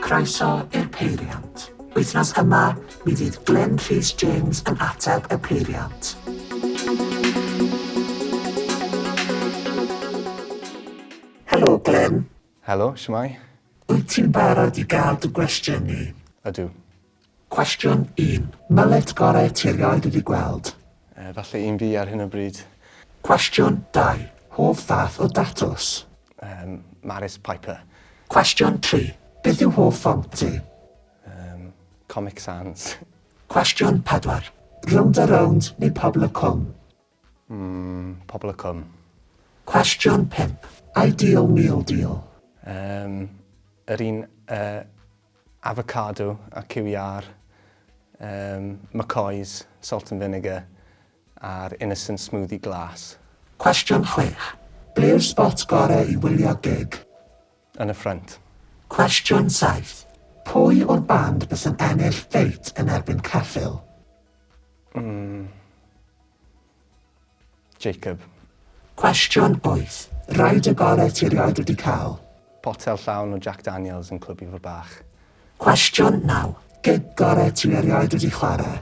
Croeso i'r peiriant. Wythnos yma, mi fydd Glyn Rhys James yn ateb y peiriant. Helo Glyn. Helo, shwmae? Wyt ti'n barod i gael dy gwestiynu? Ydw. Cwestiwn un. Myllet gorau ti erioed wedi gweld? Efallai un fi ar hyn o bryd. Cwestiwn dau. Hoff fath o datws? Yym, Maris Piper. Cwestiwn tri. Beth yw hoff ffont ti? Yym, Comic Sans. Cwestiwn pedwar. Rownd a rownd neu Pobl y Cwm? Ym Pobl y Cwm. Cwestiwn pump, Ideal Meal Deal. Yym, yr un yy avocado a cyw iâr, yym, McCoy's salt and vinegar a'r innocent smoothie glas. Cwestiwn chwech, Ble yw'r spot gorau i wylio gig? yn y ffrynt. Cwestiwn 7, Pwy o'r band bysa'n ennill ffeit yn erbyn Ceffyl? Mm. Jacob. Cwestiwn 8, Rhaid y gorau ti erioed wedi cael? Potel llawn o Jack Daniels yn Clwb Ifor Bach. Cwestiwn 9, Gig gorau ti erioed wedi chwarae?